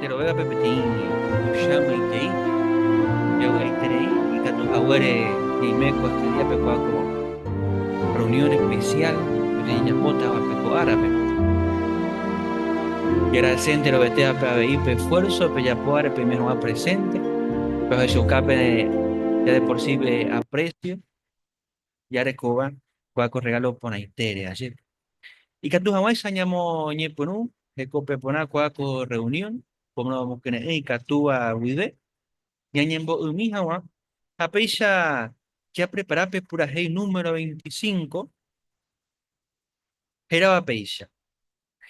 Péro vévape peteĩ tuicha moĩtei javy'aiterei ikatu haguére ñaime ko estudia pekua ko reunión especial rejapótava pe ko árape. Jagrasé enterovetévape avei pe esfuerzo pejapo áre peime hag̃ua presente, pejohechaukapere ya de por sí pe aprecio. jarekóva kua ko rregálo porãitére ajépe. Ikatu hag̃uáicha ñamoñepyrũ hekope porã kua ko rreunión, ko mbokyre'ỹ ikatúva guive, ñañembo'ymi hag̃ua, ha péicha japrepara pe purahéi número veinticinco hérava péicha.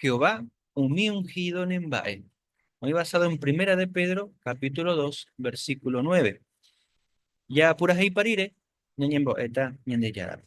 Jehová umi unhído ne mba'e. Oĩ basado en Primera de Pedro capítulo dos, versículo nueve. Japurahéipa rire ñañembo'éta Ñandejárape.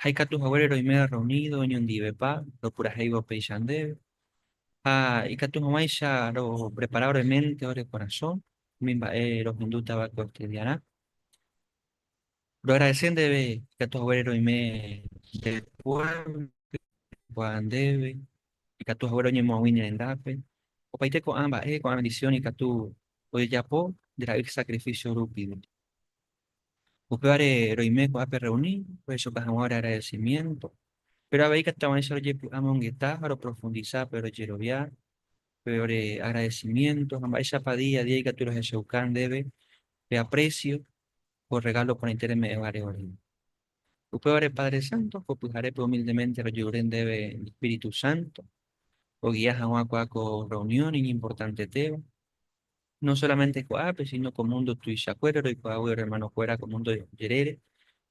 ha ikatu haguére roime rreunido oñondivepa ropurahéiva upéicha ndéve, ha ikatu hag̃uáicha roprepara ore ménte, ore korasõ umi mba'e rohendútava'ekue oestudiarã. Roagradese ndéve ikatu haguére roime nde puévlope oikuaa ndéve, ikatu haguére oñemoag̃ui ne rendápe. Opaite ko'ã mba'e, ko'ã bendisión ikatu ojejapo nde ra'y sakrifísio rupi. Upévare roime ko'ápe rreuni, rohechoka hag̃ua ore agradesimiénto, péro avei ikatuava'erãicha rojepy'a amongeta ha roprofundisa pe rojerovia, pe ore agradesimiénto ha mba'éichapa día a día ikatu rohechauka ndéve pe aprécio ko rregálo porãite reme'ẽvare ore. Upévare Padre Sánto ko pyharépe humildemente rojerure ndéve Espíritu Sánto ogia hag̃ua kuaa ko rreunión iñimportantetéva. no solamente ko'ápe, síno ko múndo tuichakuére roikuaágui orrermanokuéra ko múndo jerére,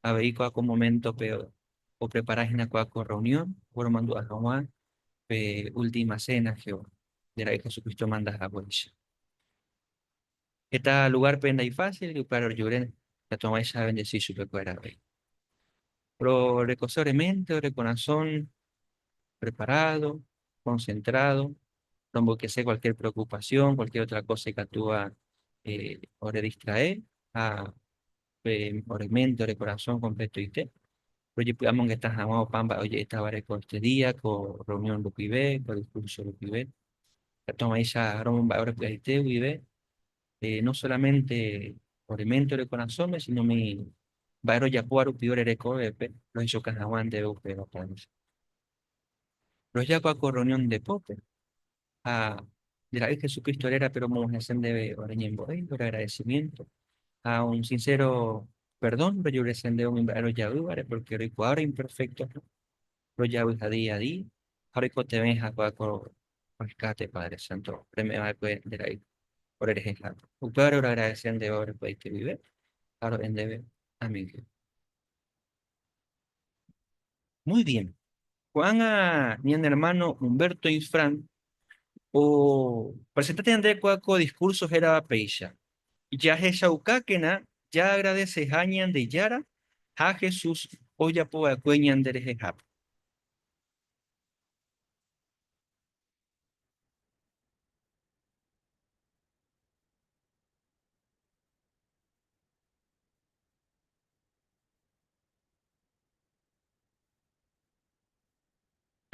avei ko'ã ko moméntope oprepara hína ko'ã ko rreunión oporomandu'a hag̃ua pe última séna Jehová nde Ra'y Jesucristo omanda haguéicha. Heta lugárpe ndaifásilgui upévare ojure katu hag̃uáicha avendesi chupekuéra avei. Orekose oreménte, ore korasõ preparádo, concentrado, romboykese cualquier preocupación, cualquier otra cosa ikatúva eh, ore distrae ha pe ore mente, ore corazón completoite. Rojepy'amongeta hag̃ua opa mba'e oje'etávare ko este día, ko reunión rupive, ko discurso rupive. Katuavãicha romomba'e ore py'aite guive, eh, no solamente ore mente, ore corazón, sino mi mba'e rojapóva rupive ore rekovépe, rohechoka hag̃ua ndéve upéva. Rojapo ko rreunión depópe ha nde ra'y Jesucristo rérape romog̃uahẽse ndéve ore ñembo'e, ore agradecimiento ha un sincero perdón rojurese ndéve umi mba'e rojaývare, porque roikuaa ore imperfectoha, rojavyha día a día ha roikotevẽ hakuaa ko rescate Padre Santo reme'ẽ va'ekue nde ra'y ore rehehápe. Upévare oragradece ndéve orekueaite guive ha ro'e ndéve, Amén Jehová. Muy bien. Ko'ág̃a ñane ermáno Humberto Infran opresenta tenonderekue ko diskúrso hérava péicha, Jahechaukákena jaagradeseha Ñandejára ha Jesús ojapova'ekue ñanderehehápe.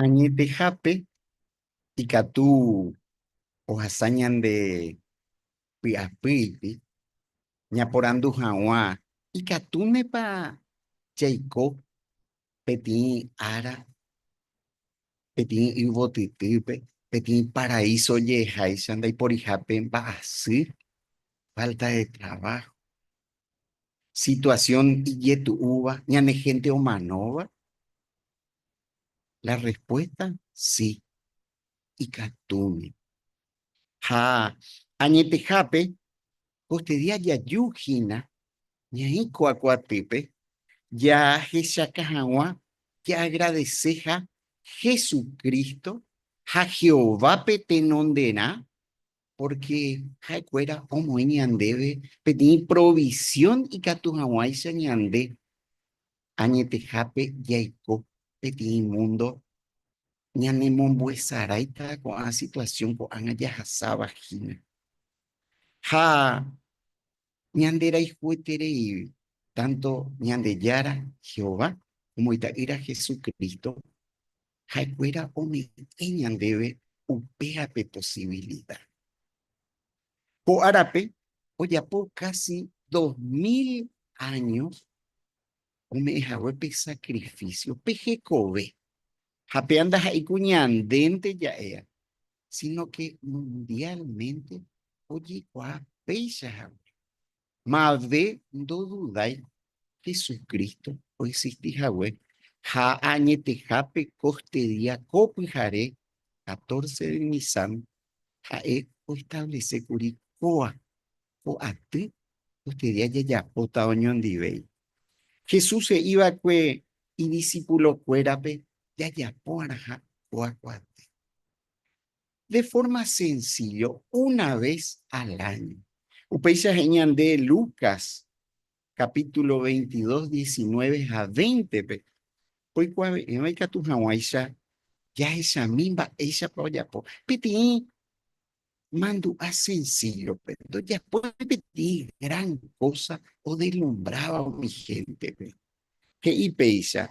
Añetehápe ikatu ohasa ñande py'apýipi ñaporandu hag̃ua ikatúnepa jaiko peteĩ ára peteĩ yvotytýpe, peteĩ paraíso jeháicha ndaiporihápe mba'asy, falta de trabajo, situación ijetu'úva ñane hénte omanóva? La respuesta, sí, ikatúmi. Ha añetehápe, poste día jaju hína ñaĩ kua kuatýpe, jahechaka hag̃ua jaagradeséha Jesucristo ha Jehovápe tenonderã, pórke ha'ekuéra omoĩ ñandéve peteĩ provisión ikatu hag̃uáicha ñande Añetehápe jaiko peteĩ múndo ñanemombo'esaráita ko'ã situasión ko'ág̃a jahasáva hína. Ha ñanderayhuetereígui, tánto Ñandejára Jehová omo Ita'ýra Jesucristo ha'ekuéra ome'ẽ ñandéve upéape posivilida. Ko árape ojapo kási dos mil áño ome'ẽ hague pe sakrifísio, pe hekove. Ha péva ndaha'éi ku ñandénte ja'éva, sínoke mundiálmente ojekuaa péicha hague. Mave ndodudái Jesucristo oexisti hague ha añetehápe ko ste día ko pyhare catorce de Nisán ha'e oestablece kuri kóva ko aty ko ste día jajapóta oñondivéi. Jesús he'i va'ekue idisipulo kuérape jajapo'arãha kóva ko aty. de forma sencillo una vez al año. Upéicha he'i ñande Lucas capítulo 22, 19 ha 20-pe, oikuave'ẽva ikatu hag̃uáicha jahechami mba'éichapa ojapo. Peteĩ mandu'a sencillo-pe, ndojapói peteĩ gran kósa odelumbráva umi héntepe. He'i péicha,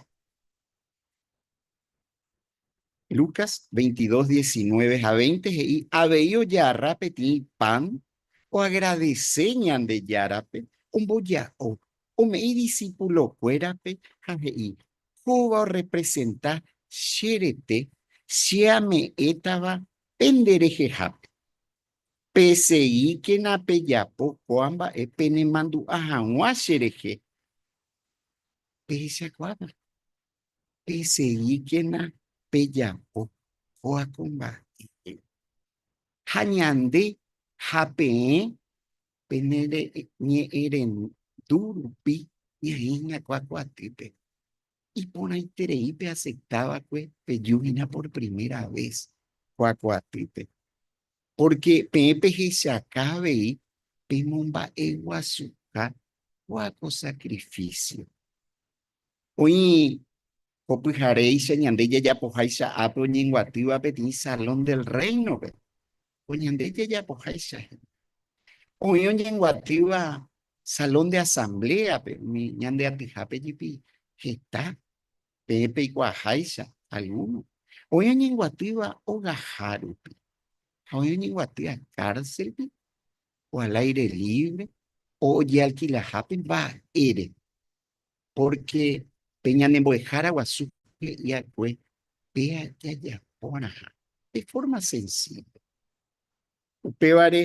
Lucas 22, 19 ha 20 he'i avei ojarra peteĩ pan oagradese Ñandejárape, omboja'o, ome'i disípulokuérape ha he'i, Kóva orrepresenta che rete che ame'ẽtava pende rehehápe. Peseíkena pejapo ko'ã mba'e penemandu'a hag̃ua cherehe pehechakuáva. peseíkena pejapo oakomba'e. Ha ñande ha peẽ pene ñe'ẽrendu rupi ñaĩ hína kuakuatýpe, iporãiterei peaceptáva'ekue peju hína por primera vez kuakuatýpe. Pórke peẽ pehechaka avei pemomba'eguasuha kuako sakrifísio. Oĩ ko pyharéicha ñande jajapoháicha ápe oñenguatýva peteĩ Salón del Reino-pe, ko ñande jajapoháicha hína. Oĩ oñenguatýva Salón de Asamblea-pe, umi ñande atyhápe jepi heta, peẽ peikuaaháicha algúno. Oĩ oñenguatýva ogaha rupi, ha oĩ oñenguatýva kárselpe o al aire libre o ojealkilahápe mba'ére. Pórke pe ñanembo'ehára guasu he'i akue péa jajapórãha de fórma sensívo. Upévare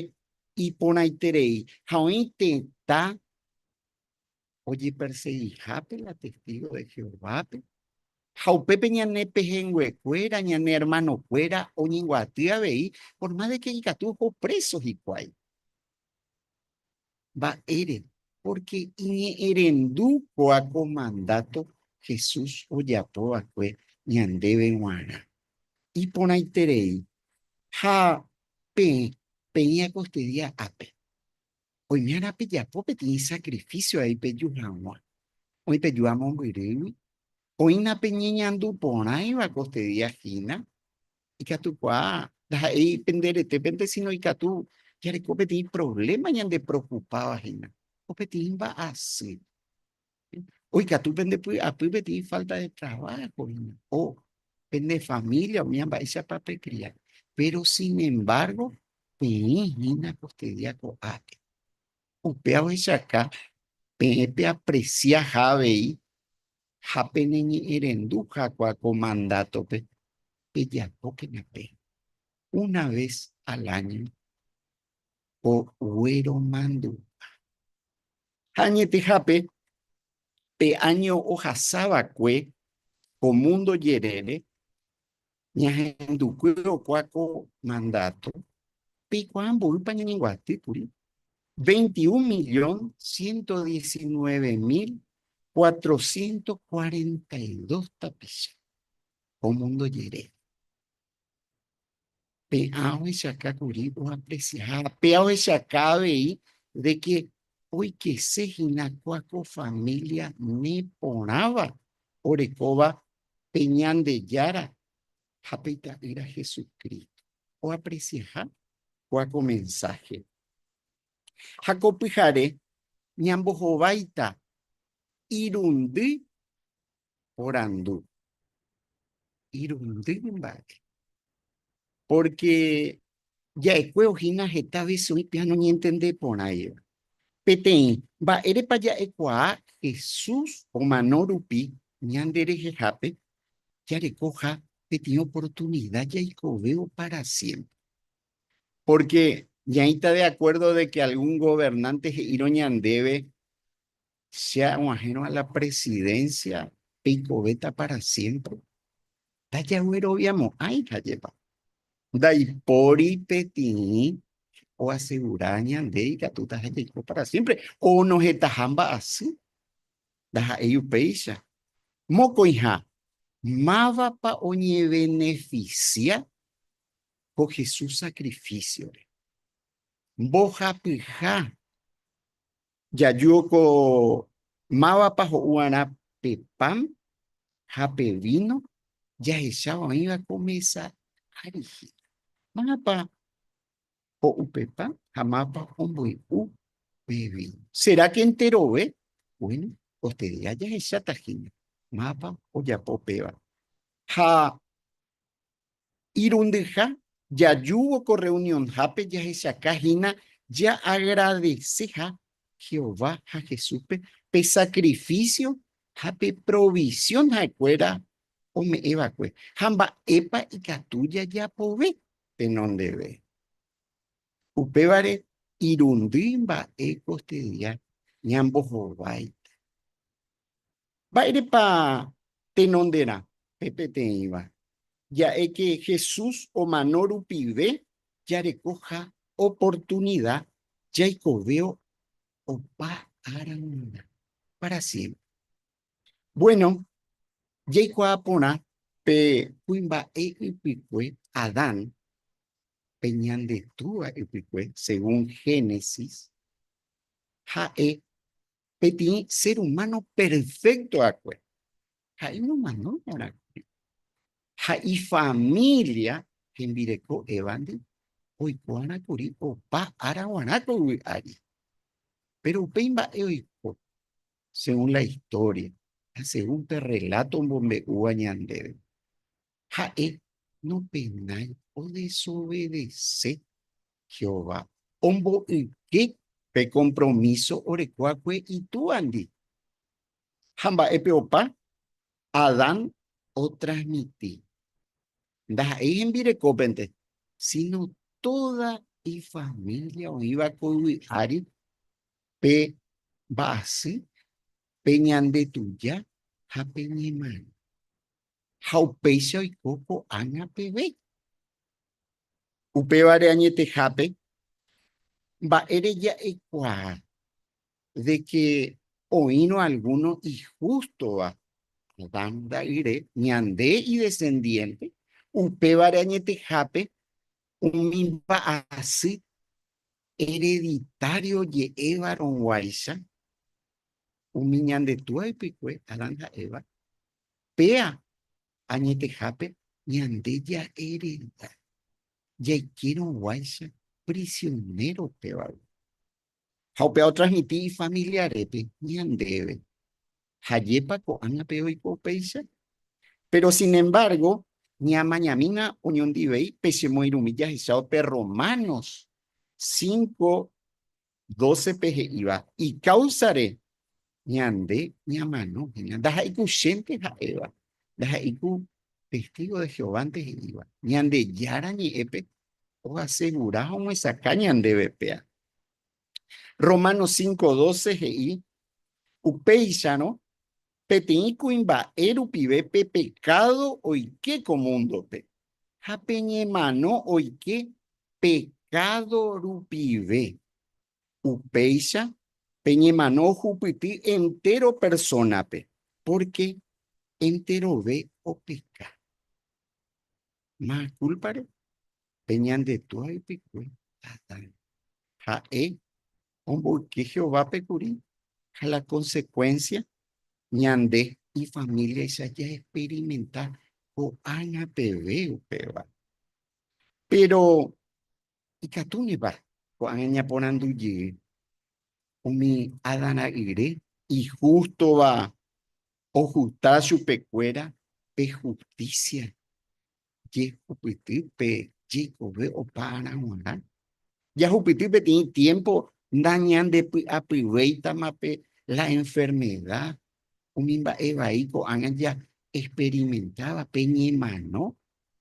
iporãiterei ha oĩ tetã ojepersegihápe la testígo de Jehovápe, ha upépe ñane pehẽnguekuéra, ñane ermanokuéra oñembyaty avei, por má de ke ikatu oho préso hikuái. Mba'ére? Pórke iñe'ẽrendu kóa ko mandáto Jesús ojapo va'ekue ñandéve g̃uarã. Iporãiterei, ha peẽ peĩ akostudia ápe, oimérõ pejapo peteĩ sakrifísio avei peju hag̃ua. Oĩ peju amombyrýgui, oĩna peñeñandu porãiva akostudia hína, Ikatukuaa ndaha'éi pende retépe, síno ikatu jareko peteĩ provléma ñandepreokupáva hína, ko peteĩ mba'asy. Oikatu pende py'apy peteĩ fálta de traváho hína, o pende família umíva mba'éichapa pekria. Péro sin embárgo peẽ hína kostedía ko'ápe. Upéva ohechauka peẽ peapresia ha avei ha peneñe'ẽrendu hagua ko mandátope, pejapókena pe una ves al áño ko guéro mandu'a. Ha añetehápe, pe áño ohasa va'ekue ko múndo jerére, Ñahendukue rokuaa ko mandato, peikuaa mboýpa ñañenguaty kuri 21.119.442 tapicha ko mundo jere. Pe'ã ohechaka kuri oapreciaháva, pe'a ohechaka avei de que oikese hína kua ko familia neporãva orekóva pe Ñandejára ha pe Ita'ýra Jesucristo oapreciaha kua ko mensaje. Ha ko pyhare ñambohováita irundy porandu. Irundy mba'e. Pórke ja'ekue ohína heta vése oĩ peẽ noñentende porãiva. Peteĩ, mba'érepa ja'ekuaa Jesús omano rupi ñanderehehápe jarekoha peteĩ oportunida jaikovévo pára siémpre? Pórke ñaĩta de akuérdo de ke algún governánte he'írõ ñandéve Che aguahẽrõ a la presidencia peikovéta para siempre? Ndajagueroviamo'ãihajepa. Ndaipóri petirĩ oasegura ñande ikatúta ha'e jaiko para siempre o nohetaha mba'asy. Ndaha'éi upéicha. Mokõiha, mávapa oñevenefisia ko Jesús sacrifíciore? Mbohapyha. Jaju ko mávapa ho'uarã pe pan ha pe víno jahecháva oĩva ko mesa ári hína. Mávapa ho'u pe pan ha mávapa omboy'u pe víno. Será ke enterove? Buéno, koste día jahecháta hína mávapa ojapo péva. Ha Irundyha jajúvo ko rreunionhápe jahechaka hína jaagradeseha Jehová ha Jesúspe pe sakrifísio ha pe provisión ha'ekuéra ome'ẽ va'ekue, ha mba'épa ikatu jajapove tenondeve. Upévare irundy mba'e kostedia ñambohováita. Mba'érepa tenonderã pe peteĩva? Ja'éke Jesús omano rupive jarekoha oportunida jaikovévo opa ára g̃uarã pára siémpre. Buéno, jaikuaa porã pe kuimba'e ypykue Adán, pe ñande Túva ypykue, según Génesis, ha'e peteĩ ser humano perfecto akue, ha'e nomanói arakue. Ha ifamilia hembireko Eva-ndi oikuaára kuri opa ára guarã ko yvy ári. Péro upéi mba'e oiko, según la historia ha según pe rrelláto omombe'úva ñandéve. ha'e nopenái odesovedese Jehová, omboyke pe kompromíso oreko akue Itúandi. Ha mba'épe opa Adán otransmiti? Ndaha'éi hembirekópente, síno tóda ifamília oĩva ko yvy ári pe mba'asy, pe ñandetuja ha pe ñemanóva. ha upéicha oiko ko'ág̃a peve. Upévare añetehápe, mba'e reja'ekuaa de ke oĩrõ algúno ihústova Adán ra'yre, ñande idesendiénte, upévare añetehápe umi mba'asy ereditário oje'évarõguáicha umi ñande túa ypykue, Adán ha Eva, Péa añetehápe ñande ja'erenda jaikérõguáicha prisionero pévagui. Ha upéva otransmiti ifamiliarépe ñandéve, Jajépa ko'ág̃ape oiko upéicha? Péro sinembargo, ñamañamína oñondivei pe chemoirũmi jahechávo pe Romanos cinco 12-pe he'íva ikáusare ñande ñamano hína, ndaha'éiku chénte ha'éva, ndaha'éiku testígo de Jehovánte he'íva, Ñandejára Ñe'ẽpe oasegura ha omyesakã ñandéve péa. Romanos 5:12 he'i, Upéicharõ Peteĩ kuimba'e rupive pe pekádo oike ko múndope, ha pe ñemano oike pekádo rupive. Upéicha pe ñemano ohupyty entéro persónape, pórke enterove opeka. Ma kúlpare, pe ñande tua ypykue Adán. Ha'e omboyke Jehovápe kuri ha la konsekuénsia ñande ifamíliaicha jaexperimenta ko'ág̃a peve upéva. Péro ikatúnepa ko'ág̃a ñaporandu jey umi Adán ra'yre ihústova ojusta chupekuéra pe hustísia jehupyty pe jeikove opára g̃uarã. Jahupyty peteĩ tiémpo ndañandepy'apyvéitama pe la enfermeda, umi mba'e vai ko'ág̃a jaesperimentáva pe ñemano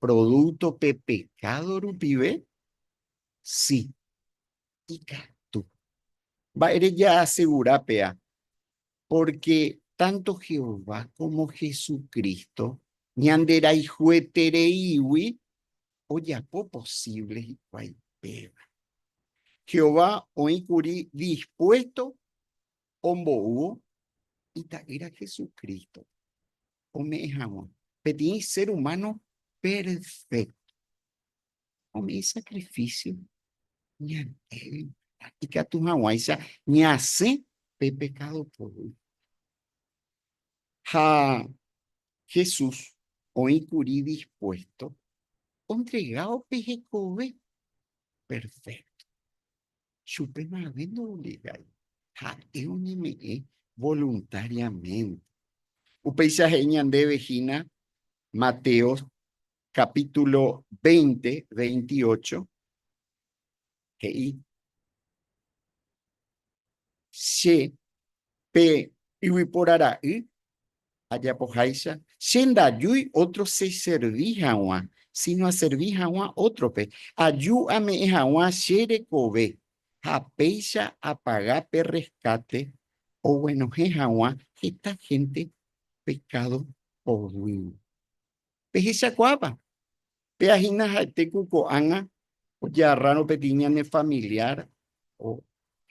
prodúkto pe pekádo rupive. Si, ikatu. Mba'ére jaasegura péva Pórke tánto Jehová kómo Jesucristo ñanderayhuetereígui ojapo posívle hikuái péva. Jehová oĩ kuri dispuésto ombou Ita'ýra Jesucristo ome'ẽ hag̃ua peteĩ sér umáno perfékto. Umi isakrifísio ñandéve ikatu hag̃uáicha ñasẽ pe pekádo poguy. Ha Jesús oĩ kuri dispuésto ontregávo pe hekove perfékto. Chupe mave ndoobligái, ha'e oñeme'ẽ voluntáriamente. Upéicha he'i ñandéve hína Mateo Capítulo veinte, veintiocho, he'i, Che, pe yvypóra ra'y, ajapoháicha, che ndajúi ótro cheservi hag̃ua, síno aservi hag̃ua ótrope. Aju ame'ẽ hag̃ua che rekove ha péicha apaga pe rreskáte oguenohẽ hag̃ua heta hénte pekádo poguýgui. Pehechakuaápa, péa hína ha'ete ku ko'ág̃a oje'arrárõ peteĩ ñane familiar o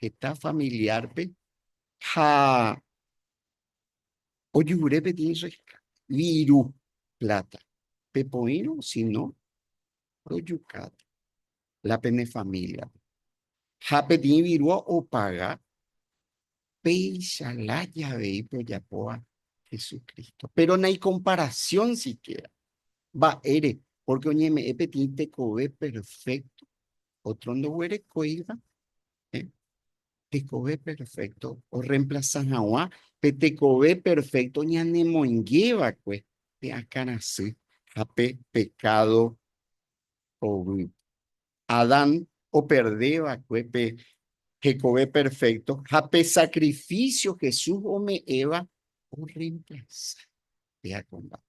heta familiar-pe ha ojuvre peteĩ viru pláta, pepoírõ si no rojukáta. la pene familia-pe. Ha peteĩ virúa opaga péicha lája avei pejapóva Jesucristo. Péro naikomparasión sikiéra. Mba'ére? Pórke oñeme'ẽ peteĩ tekove perfékto, ótro ndoguerekóiva. Tekove perfékto orremplasa hag̃ua pe tekove perfékto ñanemoingeva'ekue pe akãrasy ha pe pekádo poguy. Adán operde va'ekue pe hekove perfékto ha pe sakrifísio Jesús ome'ẽva orremplasa péa kombápe.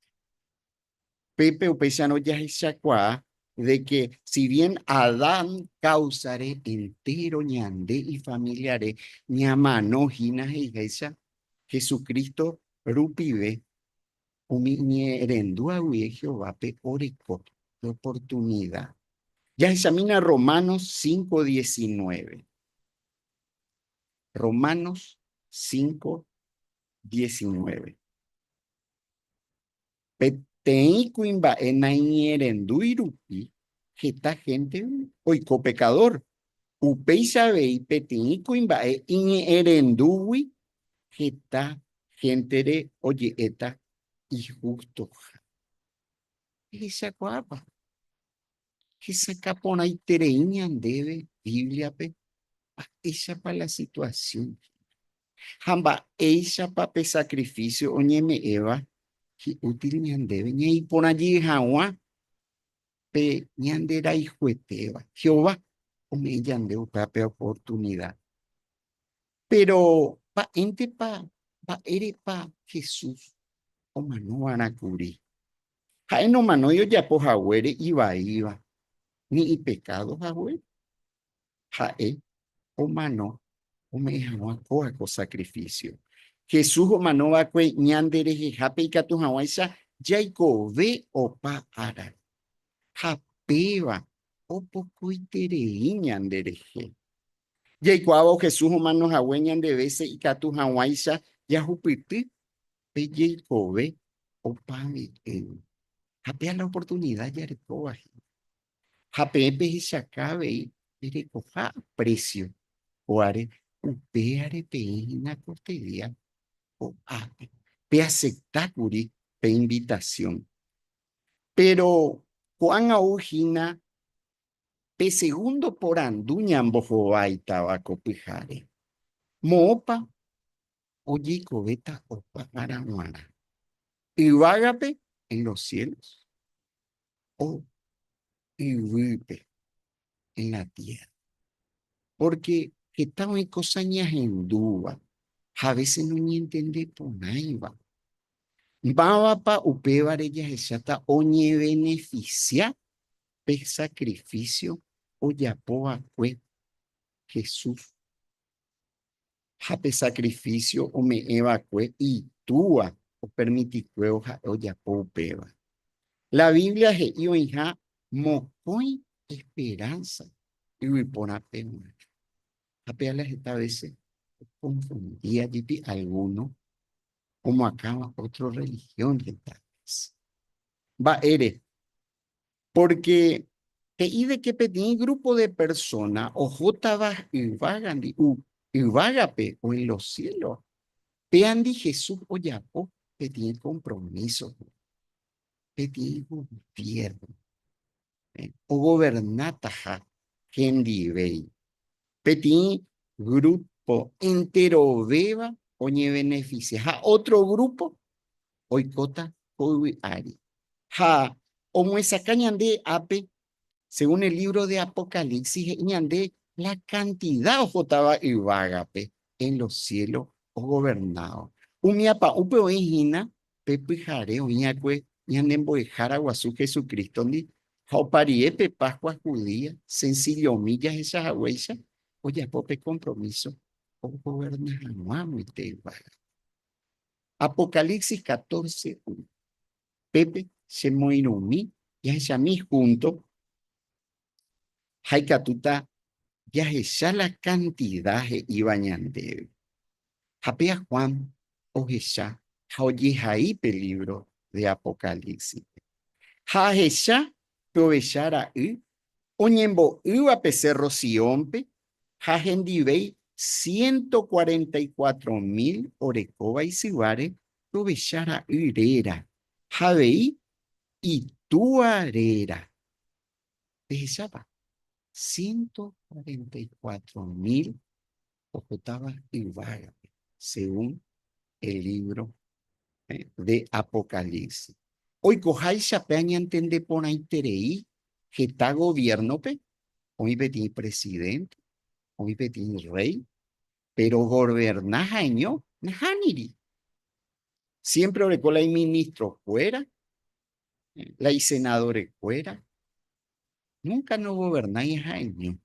Pépe upéicharõ jahechakuaa de ke si bien Adán káusare entéro ñande ifamiliare ñamano hína he'iháicha Jesucristo rupive Umi iñe'ẽrendu'águi Jehovápe oreko pe oportunida. Jahechamína Romanos cinco diecinueve. Romanos cinco diecinueve. Peteĩ kuimba'e naiñe'ẽrendúi rupi heta hénte oiko pekadór. Upéicha avei peteĩ kuimba'e iñe'ẽrendúgui heta héntere oje'éta ihústoha. Ehechakuaápa? Hesakã porãiterei ñandéve Bíbliape mba'éichapa la situasión ha mba'éichapa pe sakrifísio oñeme'ẽva hi'útil ñandéve ñaiporã jey hag̃ua pe ñanderayhuetéva. Jehová ome'ẽ ñande upéva pe oportunida Péro mba'éntepa, mba'érepa Jesús omanova'erã kuri? Ha'e nomanói ojapo haguére ivaíva, ni ipekádo haguére. Ha'e omano ome'ẽ hag̃ua kóva ko sakrifísio. Jesús omano va'ekue ñanderehehápe ikatu hag̃uáicha jaikove opa ára. Ha péva opokoiterei ñanderehe. Jaikuaávo Jesús omano hague ñande vése ikatu hag̃uáicha jahupyty pe jeikove opa mbe'égui. Ha péa la oportunida jarekóva hína. Ha peẽ pehechaka avei perekoha aprecio kóare, upévare peẽ hína koteria ko'ápe, peacepta kuri pe invitación. Péro ko'ág̃a ou hína pe segundo porandu ñambohováitava ko pyhare, Moõpa ojeikovéta opa ára g̃uarã? Yvágape, en los cielos, o yvýpe, en la tierra. Pórke heta oĩ kósa ñahendúva ha avese noñentende porãiva. Mávapa upévare jahecháta oñevenefisia pe sakrifísio ojapo va'ekue Jesús? ha pe sakrifísio ome'ẽ va'ekue Itúa opermitikuévo ha'e ojapo upéva. La Biblia he'i oĩha mokõi esperánsa yvyporãpe g̃uarã. Ha pe ala heta vése okonfundía jepi algúno omoakãva ótro rrelihión heta vése. Mba'ére Pórke he'i de ke peteĩ grúpo de persóna ohótava yvágandi, yvágape oĩ lo siélo. Péandi Jesús ojapo peteĩ kompromíso hag̃ua, peteĩ goviérno ogovernátaha hendivéi, peteĩ grúpo enterovéva oñevenefisia ha ótro grúpo oikóta ko yvy ári. Ha omyesakã ñande ápe, según el libro de Apocalipsis, he'i ñande la cantidad ohótava yvágape en los cielos ogovernáva. Umi apa'ũpe oĩ hína pe pyhare oĩ'akue ñane Mbo'ehára Guasu Jesucristo-ndi, ha oparie pe Pascua judía, sencillomi jahecha haguéicha, ojapo pe compromiso ogoverna hag̃ua amoite yvágape. Apocalipsis catorce uno. Pépe che moĩrõ umi jahechami húnto ha ikatúta jahecha la kantida he'íva ñandéve. Ha péa Juan ohecha ha ojehai pe lívro de Apocalípsispe. Ha ahecha pe Ovecha Ra'y oñembo'ýva pe Sérro Siónpe ha hendivéi ciento cuarenta y cuatro mil orekóva isyváre Rovecha Ra'y réra ha avei Itúa réra. Pehechápa? Ciento cuarenta y cuatro mil Ohotáva yvágape, según el libro de Apocalipsis. Oikoháicha pe añantende porãiterei heta gobierno-pe, oĩ peteĩ presidente, oĩ peteĩ rey, pero governa ha'eño nahániri. Siempre oreko la iministrokuéra, la isenadorekuéra núnka nogovernái ha'eño.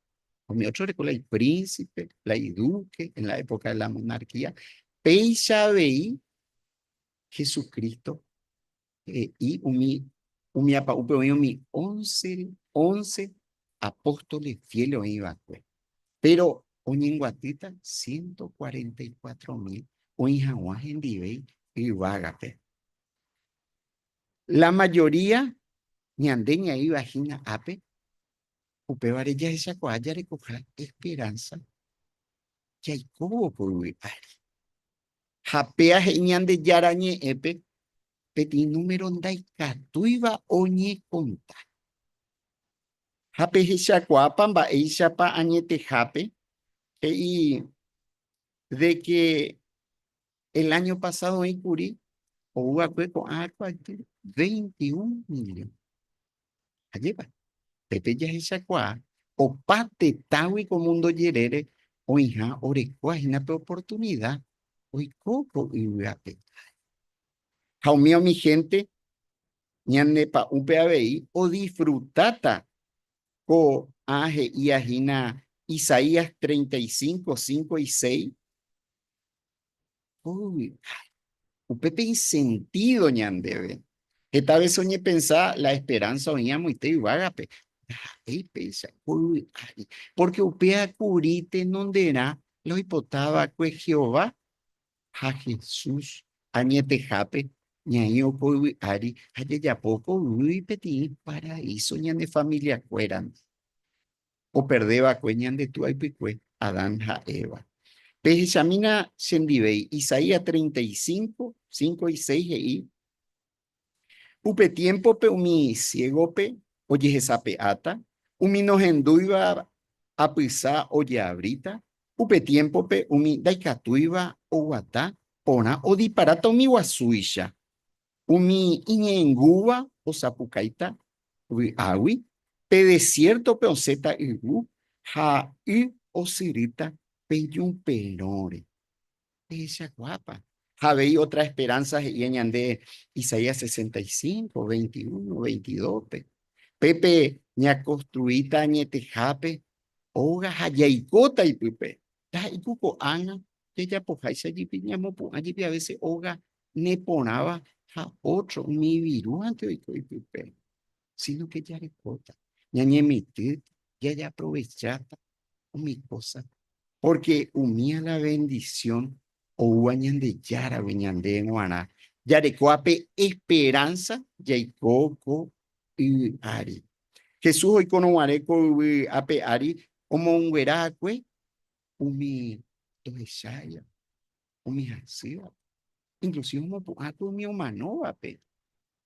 Umi ótro reko la ipríncipe, la iduke en la époka de la monarquía. Péicha avei Jesucristo he'i umi umi apa'úpe oĩ umi ónce, ónce apóstole fiel oĩ va'ekue. Péro oñenguatýta ciento cuarenta y cuatro mil oĩ hag̃ua hendive yvágape. La mayoría ñande ñaĩva hína ápe, upévare jahechakuaa jarekoha esperanza jaikóvo poyvi ári. Ha péa he'i Ñandejára Ñe'ẽpe peteĩ número ndaikatúiva oñekonta. Ha pehechakuaápa mba'éichapa añetehápe he'i de que El año pasado oĩ kuri ou va'ekue ko'ã aikuaágui 21 million. Ajépa, pépe jahechakuaa opa tetãgui ko mundo jerére oĩha orekóva hína pe oportunida oiko ko yvy ape. Ha umi umi hénte ñane pa'ũpe avei odisfrutáta ko'ã he'íva hína Isaías 35, 5 y 6, Uy, upe pe insentido ñandeve. Heta vez oñepensa la esperanza oĩ amoite yvágape. Ndaha'éi péicha, poyvi ári. Porque upéva kuri tenonderã la oipota va'ekue Jehová ha Jesús añetehápe ñaĩvo ko yvy ári ha jajapo ko yvýgui peteĩ paraíso ñane familia kuérandi. operde va'ekue ñande Tú aipykue, Adán ha Eva. Pehechamína chendivéi, Isaías 35, 5 y 6 he'i, Upe tiémpope umi siégope ojehesape'áta, umi nohendúiva apysa ojeavríta, upe tiémpope umi ndaikatúiva oguata porã odiparáta umi guasúicha, Umi iñe'ẽngúva osapukáita vy'águi, pe desiértope osẽta yvu, ha y osyrýta pe ñu perõre. Ehechakuaápa? Ha avei ótra esperánsa he'íva ñande Isaías sesenta y cinco, veintiuno, veintidóspe, Pépe ñakonstruíta añetehápe óga ha jaikóta ipype, Taha'éiku ko'ág̃a jajapoháicha jepi ñamopu'ã jepi avese óga neporãva ha ótro umi ivirúvante oiko ipype. Sínoke jarekóta, ñañemitỹta, jajeaprovecháta umi kósa. Pórke umi ala vendisión oúva Ñandejáragui ñande g̃uarã jareko ape esperánsa jaiko ko y ári. Jesús oikórõ guare ko yvy ape ári, omounguera akue umi tohecháiva, umi hasývape, inclusive omopu'ã akue umi omanóvape.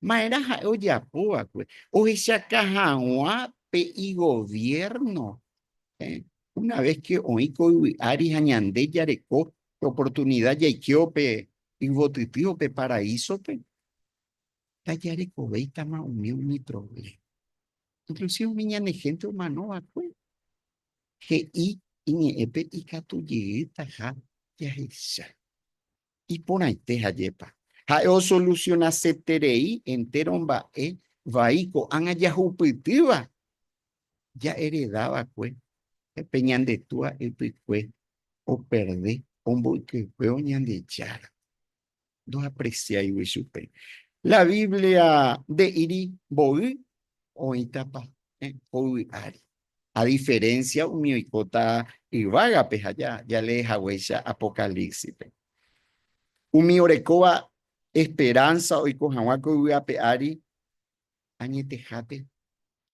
Maerã ha'e ojapo va'ekue? Ohechaka haguã pe igoviérno. Una vez que oĩ ko yvy ári ha ñande jareko pe oportunida jaikévo pe yvotytývo pe paraísope, ndajarekovéitama umi umi provléma. Inklusive umi ñane hénte omano va'ekue he'i iñe'ẽpe ikatu jeýtaha jahecha. Iporãite jajépa, ha'e osolusionaseterei entéro mba'e vai ko'ág̃a jahupytýva jahereda va'ekue pe ñande túa ypykue operde omboykeguévo Ñandejára. ndoapreciáigui chupe. La Biblia nde'íri mboy oĩtapa hoyvi ári. A diferencia umi oikóta yvágape ha jalee haguéicha Apocalípsipe. Umi orekóva esperanza oiko hag̃ua ko yvy ape ári, añetehápe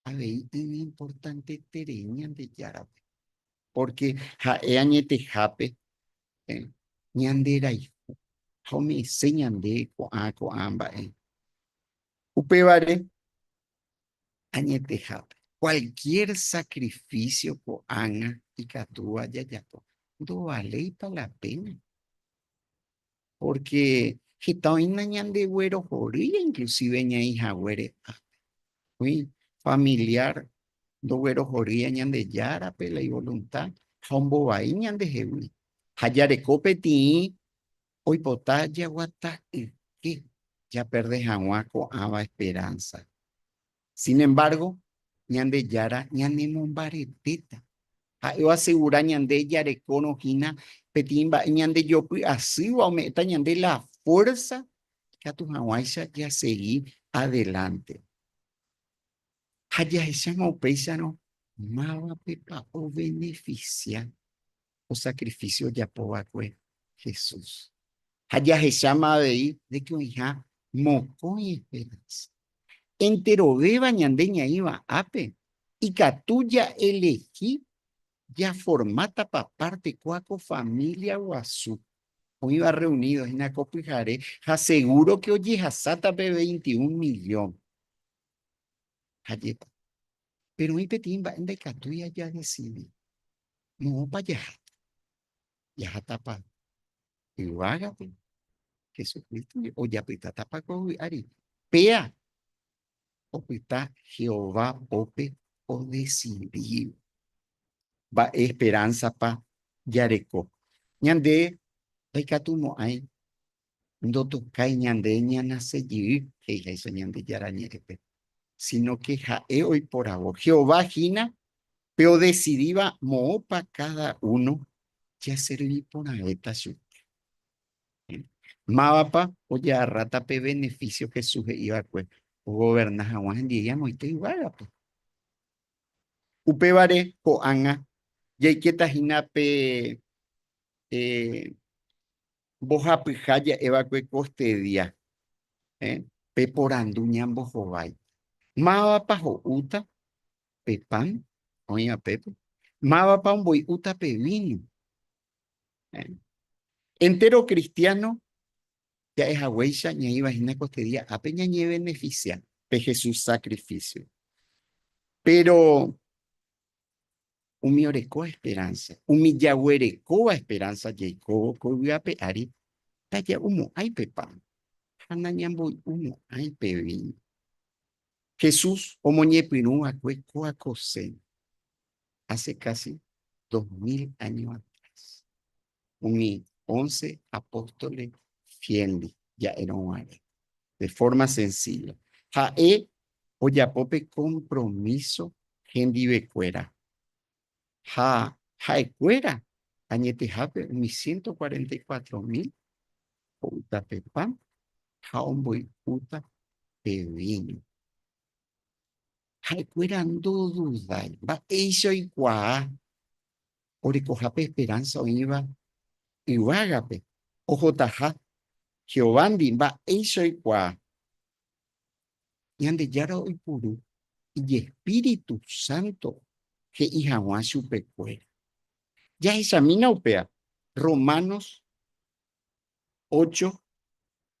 avei iñimportanteterei Ñandejárape. Pórke ha'e añetehápe ñanderayhu ha ome'ẽse ñande ko'ã ko'ã mba'e. Upévare añetehápe, kualkiér sakrifísio ko'ág̃a ikatúva jajapo ndovaléipa la péna. Pórke heta oĩna ñandegue rohorýiva inklusive ñaĩ haguére ápe. Oĩ familiar ndoguerohorýiva Ñandejárape la ivolunta ha ombovai ñandehegui. Ha jareko peteĩ oipota jaguata yke japerde hag̃ua ko'ãva esperánsa. Sin embargo, Ñandejára ñanemombaretéta. Ha'e oasegura ñande jarekórõ hína peteĩ mba'e ñandejopy asýva ome'ẽta ñande la fuérza ikatu hag̃uáicha jasegi adelánte. Ha jahecháma upéicharõ mávapepa ovenefisia ko sacrificio ojapo va'ekue Jesús. Ha jahecháma avei de que oĩha mokõi esperanza. Enterovéva ñande ñaĩva ápe, ikatu ja elegi jaformáta pa parte kua ko familia guasu oĩva reunido hína ko pyhare ha seguro que ojehasáta pe veintiún millón. Ha jepa. Pero oĩ peteĩ mba'e ndaikatúi aja decidi. Moõpa jaháta? Jahátápa yvágape? Jesucristo ojapytátapa ko vy'ári? Péa opyta Jehová pópe odesidi. Mba'e esperánzapa jareko? Ñande ndaikatumo'ãi ndotokái ñande ñanase jey, he'i ha'éicha Ñandejára Ñe'ẽpe, sínake ha'e oiporavo. Jehová hína pe odesidíva moõpa káda uno jaservi porãvéta chupe. Mávapa oje'arráta pe benefísio Jesús he'i va'ekue ogoverna hag̃ua hendive amoite yvágape? Upévare ko'ág̃a jaikéta hína pe Mbohapyha ja'e va'ekue ko este día, eh, pe porandu ñambohovái, Mávapa ho'úta pe pan oĩ apépe? Mávapa omboi'úta pe víno? Eh. Entéro kristiáno ja'e haguéicha ñaĩva hína ko este día ápe ñañevenefisia pe Jesús sakrifísio. Péro umi oreko esperánsa, umi jaguerekóva esperánsa jaikóvo ko yvy ape ári, taja'u mo'ãi pe pan ha nañamboy'u mo'ãi pe víno. Jesús omoñepyrũ va'ekue ko akosén hace casi dos mil áño atrás. umi ónce apóstole fiélndi ja'érõ guare, de fórma sensílla. Ha'e ojapo pe kompromíso hendivekuéra ha ha'ekuéra añetehápe umi siénto kuarenta i kuatro mil ho'úta pe pan ha omboy'úta pe víño. Ha'ekuéra ndodudái, mba'éicha oikuaa orekohápe esperánsa oĩva yvágape ohotaha Jehovándi mba'éicha oikuaa. Ñandejára oipuru ijespíritu sánto he'i hag̃ua chupekuéra. Jahechamína upéva Romanos ocho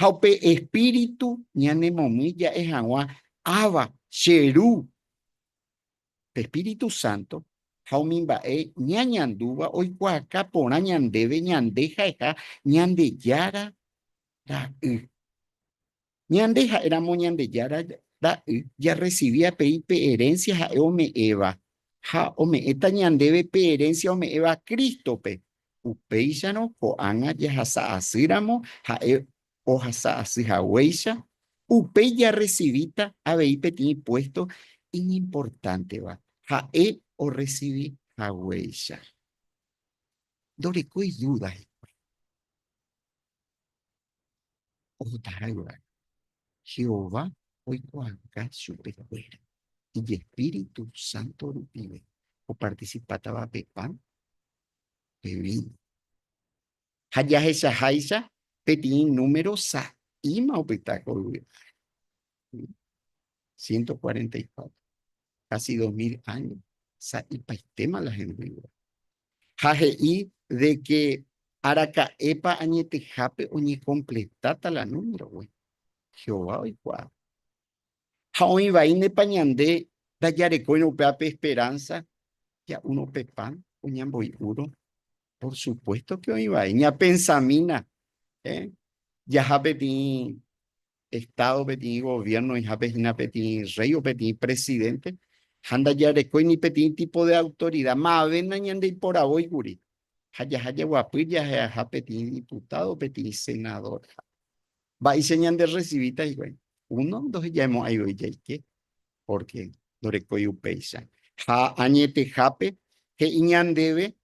Ha upe Espíritu ñanemomýi ja'e hag̃ua, Abba, che Ru! Pe Espíritu Santo ha umi mba'e ñañandúva oikuaaka porã ñandéve ñande ha'eha Ñandejára Ra'y. Ñande ha'éramo Ñandejára Ra'y jarresivi avei pe erénsia ha'e ome'ẽva, ha ome'ẽta ñandéve pe erénsia ome'ẽva Crístope, Upéicharõ ko'ág̃a jahasa asy ramo ha'e ohasa asy haguéicha, upéi jarresivíta avei peteĩ puésto iñimportánteva ha'e orresivi haguéicha. Ndorekói dúda hikuái. ohotaháiva. Jehová oikuaauka chupekuéra ijespíritu sánto rupive opartisipátava pe pan, pe víno. Ha jahechaháicha peteĩ número sa'íma opyta ko yvy ári. 144. Casi dos mil años. Sa'ipaitéma la hembýva. Ha he'i de que araka'épa añetehápe oñekompletáta la númerogui. Jehová oikuaa. Ha oĩ vaínepa ñande ndajarekóirõ upévape esperanza ja'úrõ upe pan o ñamboy'úrõ. Por supuesto que oĩ vai. Ñapensamína, eh, jaha peteĩ Estado, peteĩ gobierno oĩha pe hína peteĩ rey o peteĩ presidente, ha ndajarekói ni peteĩ tipo de autoridad, ma'avéna ñandeiporavói kuri, ha jaha jaguapy jahe'aha peteĩ diputado, peteĩ senador, ha. Mba'éicha ñande rrecivíta hikuái? Uno, ndohejaemo'ãi voi jaike, porque ndorekói upéicha. Ha añetehápe, he'i ñandéve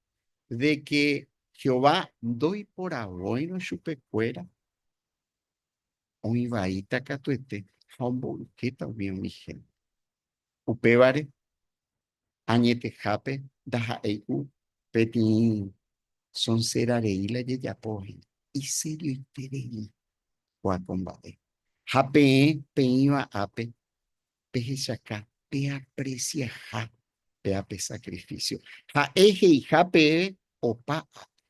de que Jehová ndoiporavóirõ chupekuéra oĩ vaíta katuete ha omboykéta umi umi hénte. Upévare, añetehápe ndaha'éi ku peteĩ sonsera rei la jejapo hína, iserioite rei kua ko mba'e. Ha peẽ peĩva ápe, pehechaka peapresiaha péape sakrifísio. Ha'e he'iha peẽve opa ápe,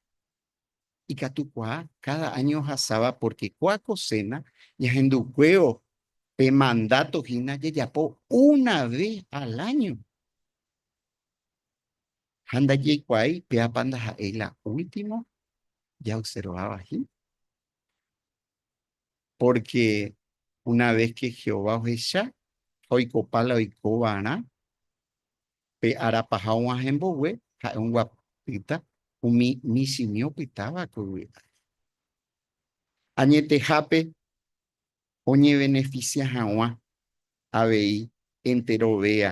Ikatu kuaa káda áño ohasáva pórke kua koséna ñahendukuévo pe mandáto hína jajapo una ve al áño. Ha ndajaikuaái péapa ndaha'éi la último jaobserváva hína. Pórke una ves ke Jehová ohecha ha oikopa la oikova'erã, Pe ára paha og̃uahẽ mbogue ha'e onguapýta umi michĩmi opytáva ko yvy ári. Añetehápe oñevenefisia hag̃ua avei entero véa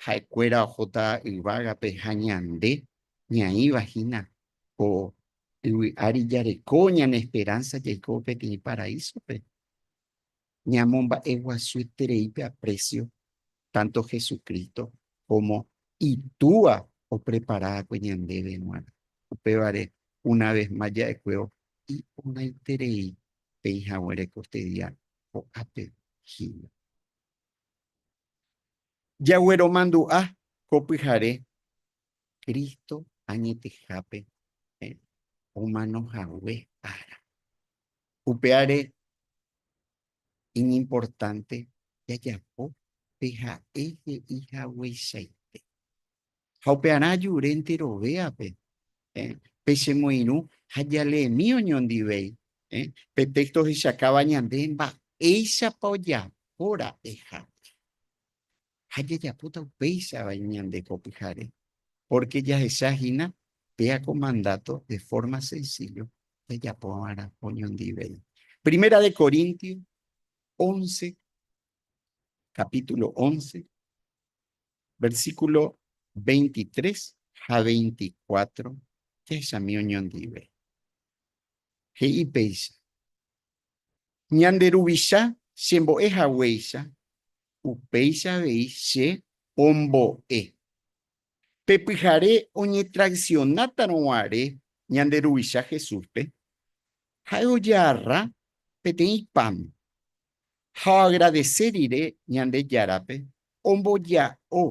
ha'ekuéra ohóta yvágape ha ñande ñaĩva hína ko yvy ári jareko ñane esperánsa jaiko peteĩ paraísope. Ñamomba'eguasueterei pe aprécio tánto Jesucristo kómo Itúa opreparava'ekue ñandéve g̃uarã. Upévare, una ves más ja'ekuévo iporãiterei peĩ hague rekorte día ko'ápe hína. Jagueromandu'a ko pyhare Cristo añetehápe omano hague ára. Upévare iñimportánte jajapo pe ha'e he'i hagueichaite. Ha upearã ajure enterovéape pe che moirũ ha jaleemi oñondivéi. Pe téxto ohechakáva ñande mba'éichapa ojapóra'e hag̃ua. ha jajapóta upéichava ñande ko pyhare, pórke jahecha hína péa ko mandáto de fórma sensíllo jajapo va'erã oñondivéi. Primera de Corintios once, kapítulo once, versíkulo veintitrés ha veinticuatro jahechami oñondive. He'i péicha, Ñande Ruvicha chembo'e haguéicha Upéicha avei che ombo'e. Pe pyhare oñetraicionátarõ guare ñande Ruvicha Jesúspe, ha'e ojearra peteĩ pan ha oagradese rire Ñandejárape, omboja'o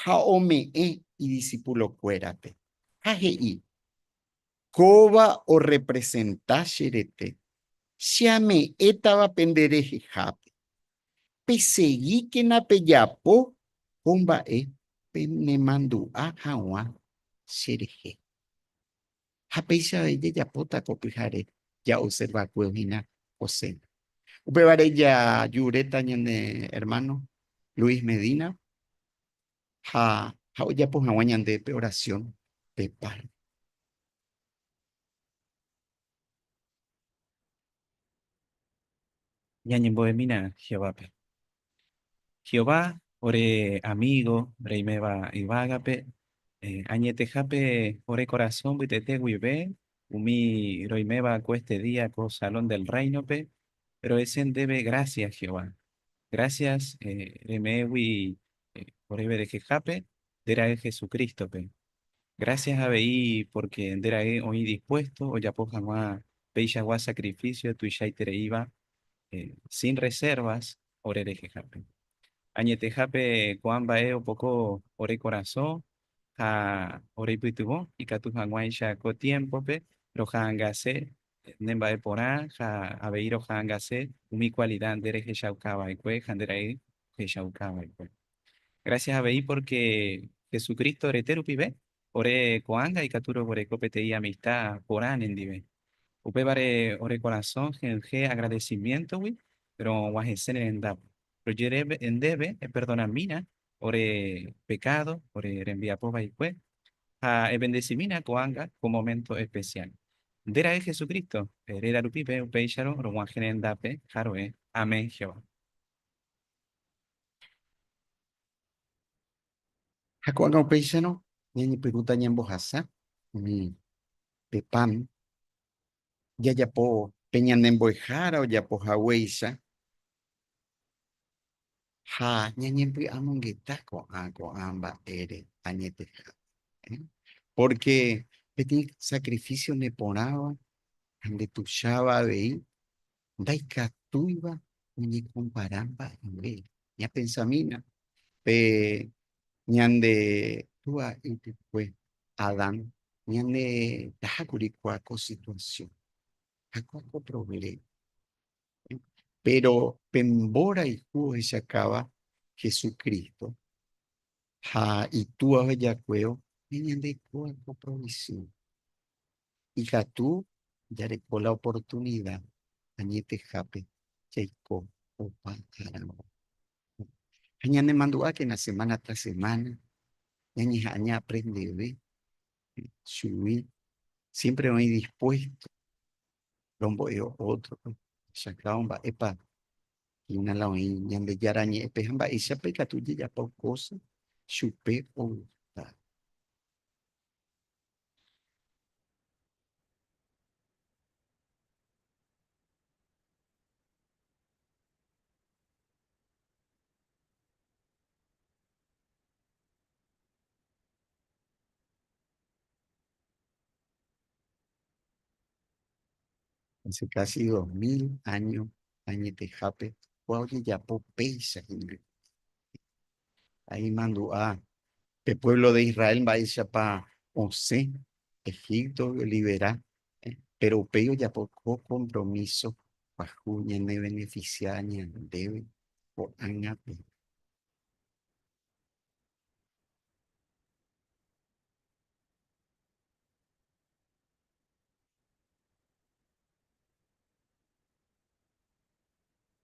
ha ome'ẽ idisipulokuérape, ha he'i, Kóva orrepresenta che rete, che ame'ẽtava pende rehehápe. Pesegíkena pejapo ko mba'e penemandu'a hag̃ua cherehe. Ha péicha avei jajapóta ko pyhare ja'observakue hína ko séna. Upévare jajuréta ñane ermáno Luis Medína. ha ha ojapo hag̃ua ñande pe orasiõ pe par. Ñañembo'emína Jehovápe. Jehová ore amígo reiméva yvágape, añetehápe ore korasõ mbytete guive umi roiméva ko éste día ko Salón del Réinope rohese ndéve grásias, Jehová. Grásias reme'ẽgui oréve rehehápe nde ra'e Jesucrístope. Grásias avei pórke nde ra'e oĩ dispuésto ojapo hag̃ua peichagua sakrifísio tuichaitereíva sin resérvas ore rehehápe. Añetehápe ko'ã mba'e opoko ore korasõ ha oreipytyvõ ikatu hag̃uáicha ko tiémpope roha'angase ne mba'e porã ha avei roha'angase umi kualida nde rehechauka va'ekue ha nde ra'y ohechauka va'ekue. Gracias avei porque Jesucristo rete rupive ore ko'ág̃a ikatu roguereko peteĩ amista porã ne ndive. Upévare ore korasõ he'yje agradecimiento-gui ro'og̃uahẽse ne rendápe. Rojereve ndéve eperdonamína ore pekádo, ore rembiapo vaikue, ha evendesimína ko'ág̃a ko moménto espesiál. Nde ra'e Jesucristo, réra rupive upéicharõ rog̃uahẽ rendápe ha ro'e, Amén, Jehová. Ha ko'ág̃a upéicharõ ñañepyrũta ñambohasa umi pe pan jajapo pe ñane mbo'ehára ojapo haguéicha ha ñañempy'amongeta ko'ã ko'ã mba'ére añetehápe. Pórke peteĩ sakrifísio neporãva ha ndetucháva avei ndaikatúiva oñekompara mba'eve. Ñapensamína pe ñande túa ypykue Adán, ñane taha kuri kua ko situasión ha kua ko provléma. Péro pe mborayhu ohechakáva Jesucristo ha Itúa ohejakuévo, ñande kua ko provisión. Ikatu jareko la oportunida añetehápe jaiko opa árape. Ha ñanemandu'ákena semana tras semana, ñañeha'ã ñaaprendeve chugui. Siémpre oĩ dispuésto rombo'e ótrope. Chakao, mba'épa hína la oĩ Ñandejára Ñe'ẽpe ha mba'éichapa ikatu jajapo kósa chupe ogutáva. Hace casi dos mil años añetehápe kua ojejapo péicha hendive. ha imandu'a pe pueblo de Israel mba'éichapa osẽ Egipto olivera, péro upéi ojapo ko kompromíso pyahu ñanevenefisia ñandéve ko'ág̃ape.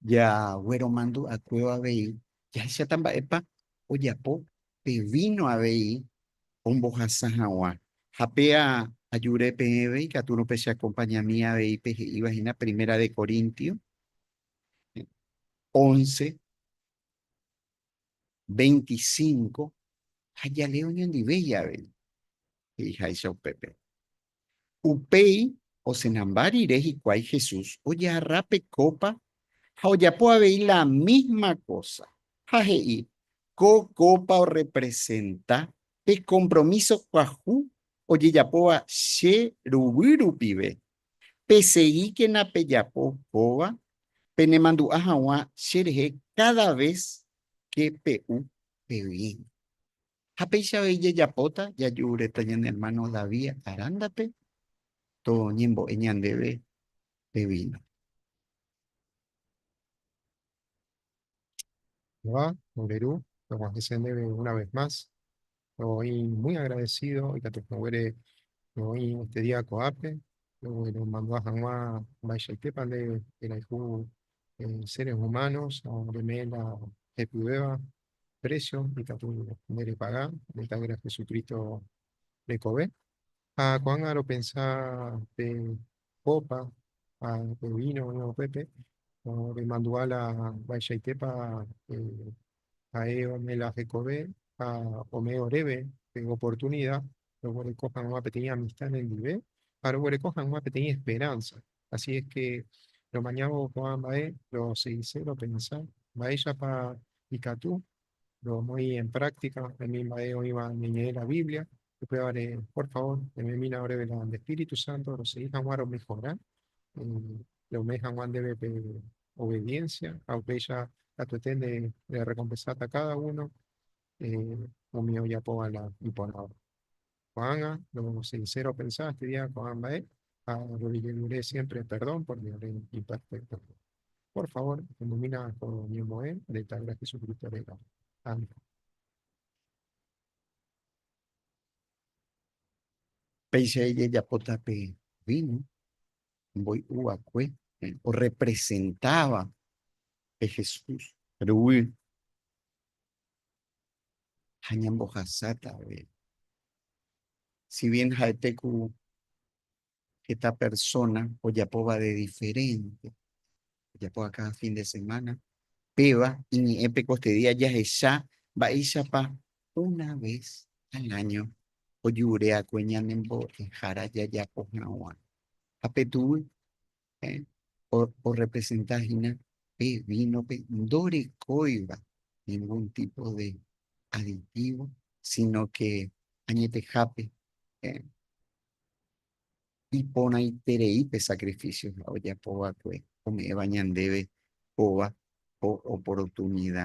Jagueromandu'akuéva avei jahecháta mba'épa ojapo pe víno avei ombohasa hag̃ua. Ha pe ajúre peẽve ikatúrõ pecheakompañami avei pe he'íva hína Primera de Corintios once, veinticinco, ha jaléo ñandivéi avei, he'iháicha upépe. Upéi osenamba rire hikuái Jesús ojarra pe kópa ha ojapo avei la mísma kósa, ha he'i, Ko kópa orrepresenta pe kompromíso kuahu ojejapóva che ruguy rupive. Peseíkena pejapo kóva penemandu'a hag̃ua cherehe káda ves ke pe'u pe víno. Ha péicha avei jajapóta jaju'ureta ñane ermáno David arándape toñembo'e ñandéve pe víno. Jehová, ore ru, vamos a decir una vez más, estoy muy agradecido y que te pobre hoy este día coape, bueno, mandó a Hanwa Baishete para el eh, seres humanos, a Remela, Epibeba, precio ikatu ne repaga ne tavira Jesucristo rekove ha ko'ág̃a ropensa pe copa ha pe vino oĩva upépe remandu'a la mba'eichaitépa ha'e ome la hekove ha ome oréve pe oportunidad roguereko hag̃ua peteĩ amistad nendive ha roguereko hag̃ua peteĩ esperanza Asi es ke romañávo ko'ã mba'e roseise, ropensa, mba'éichapa ikatu romoĩ en práctica umi mba'e oĩva ñeñe'ẽ la Biblia, upévare por favor ememína oréve la nde espíritu santo rosei hag̃ua romejora, rome hag̃ua ndéve pe obediencia ha upéicha katuete nde rerekompensáta káda uno umi ojapóva la iporãva. Ko'ág̃a lo sincero opensa estudia ko'ã mba'e ha orrevillejere siempre perdón por mi ore imperfecto. Por favor, omomína ko ñemo'ẽ nde Tavira Jesucristo réra. Amén. Péicha ijajapóta pe víno mboy'u va'ekue, orrepresentáva pe Jesús ruguy. ha ñambohasátave. Si bien ha'ete ku heta persona ojapóva de diferente, ojapóva káda fin de semana, péva iñe'ẽpe ko este día jahecha mba'éichapa una vez al año ojureakue ñanembo'ehára jajapo hag̃ua. Ha petu'u orrepresenta hína pe vínope ndorekóiva ningun típo de aditívo, sínake añetehápe iporãiterei pe sakrifísio ojapo va'ekue ome'ẽva ñandéve kóva oportunida.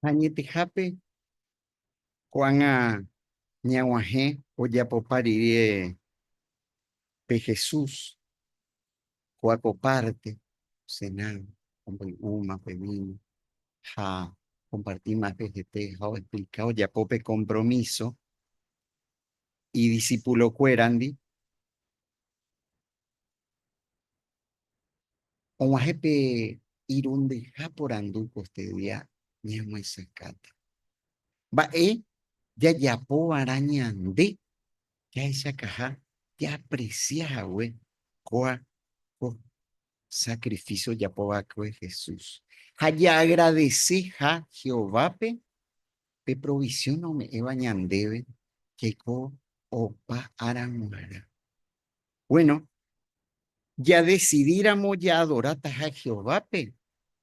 Ha añetehápe ko'ág̃a ñaguahẽ ojapopa rire pe Jesús ko'a ko párte sena, omboy'úma pe víno ha okompartíma pe hete ha oexplika ojapo pe kompromíso idisipulokuérandi Og̃uahẽ pe irundyha porandu ko este día ñamoesakãta. Mba'e jajapova'erã ñande jahechakaha jaapresia hague kóa ko sakrifísio ojapo va'ekue Jesús ha jaagradeseha Jehovápe pe provisión ome'ẽva ñandéve jaiko opa ára g̃uarã. Bueno, jadesidíramo jaadorátaha Jehovápe,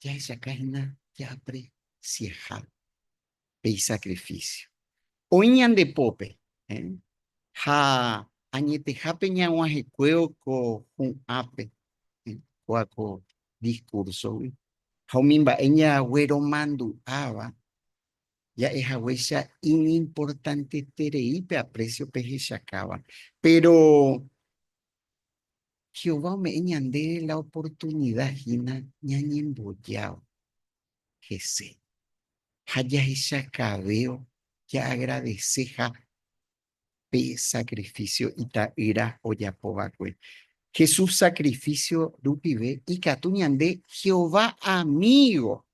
jahechauka hína jaapresiaha pe isakrifísio. Oĩ ñande pópe ha añetehápe ñag̃uahẽkuévo ko hu'ãpe, kóva ko diskúrsogui, ha umi mba'e ñagueromandu'áva ja'e haguéicha iñimportanteterei pe aprécio pehechakáva. Péro Jehová ome'ẽ ñandéve la oportunida hína ñañembojáva hese ha jahechakavévo jaagradeseha pe sakrifísio Ita'ýra ojapo va'ekue. Jesús sakrifísio rupive ikatu ñande Jehová amígo